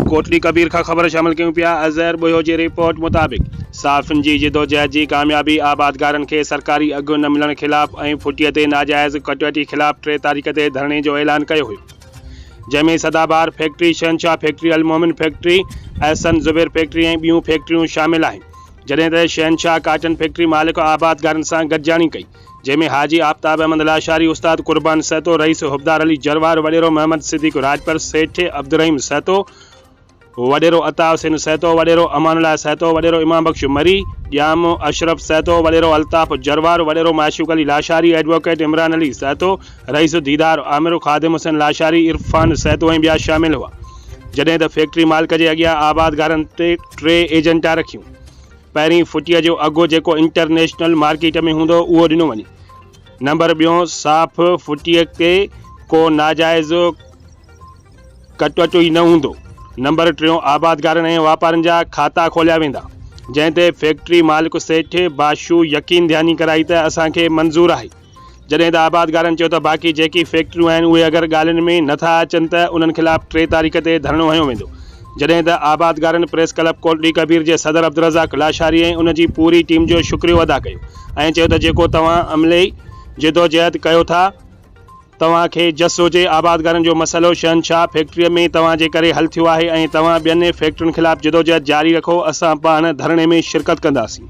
ڪوٽڙي ڪبير کان خبر شامل ڪيون پيا اظهر ٻهيو جي رپورٽ مطابق صحافين جي جدوجهد جي ڪاميابي آبادگارن کي سرڪاري اگهه نه ملڻ خلاف ۽ ڦٽي تي ناجائز ڪٽوتي خلاف ٽي تاريخ تي ڌرڻي جو اعلان ڪيو هيو جنهن ۾ سدابهار فيڪٽري شهنشاهه فيڪٽري المومن فيڪٽري احسن زبير فيڪٽري ۽ ٻيون فيڪٽريون شامل آهن جڏهن ته شهنشاهه ڪاٽن فيڪٽري مالڪ آبادگارن سان گڏجاڻي ڪئي جنهن ۾ حاجي آفتاب احمد لاشاري، استاد قربان سهتو، رئيس حبدار علي جروار، وڏيرو محمد صديق راڄپر، سيٺ عبدالرحيم سهتو، وڏيرو عطاء حسين سهتو، وڏيرو امان الله سهتو، وڏيرو ايمان بخش مري، ڄام اشرف سهتو، وڏيرو الطاف جروار، وڏيرو معشوق علي لاشاري، ايڊووڪيٽ عمران علي سهتو، رئيس ديدار عامر، خادم حسين لاشاري، عرفان سهتو ۽ ٻيا شامل هئا. جڏهن ته فيڪٽري مالڪ جي اڳيان آبادگارن ٽي ايجنٽا رکيون. پهرين فٽيء جو اگهه جيڪو انٽرنيشنل مارڪيٽ ۾ هوندو اهو ڏنو وڃي. نمبر ٻيون صاف فٽيء تي ڪو ناجائز ڪٽوٽو ئي نه هوندو. نمبر ٽيون آبادگارن ۽ واپارين جا کاتا کوليا ويندا. جنهن تي فيڪٽري مالڪ سيٺ باشو يقين ڌياني ڪرائي ته اسان کي منظور آهي. جڏهن ته آبادگارن چيو ته باقي جيڪي فيڪٽريون آهن اهي اگر ڳالهين ۾ نه ٿا اچن ته انهن خلاف ٽي تاريخ تي ڌرڻو هنيو ويندو جڏهن ته آبادگارن پريس ڪلب ڪوٽڙي ڪبير جي صدر عبدالرزاق لاشاري ۽ ان جي پوري ٽيم جو شڪريو ادا ڪيو ۽ چيو ته جيڪو توهان عملي جدوجهد ڪيو ٿا توهان کي جس هجي آبادگارن جو مسئلو شهنشاهه فيڪٽري ۾ توهان جي ڪري حل ٿيو آهي ۽ توهان ٻين فيڪٽرين خلاف جدوجهد جاري رکو اسان پاڻ ڌرڻي ۾ شرڪت ڪنداسين.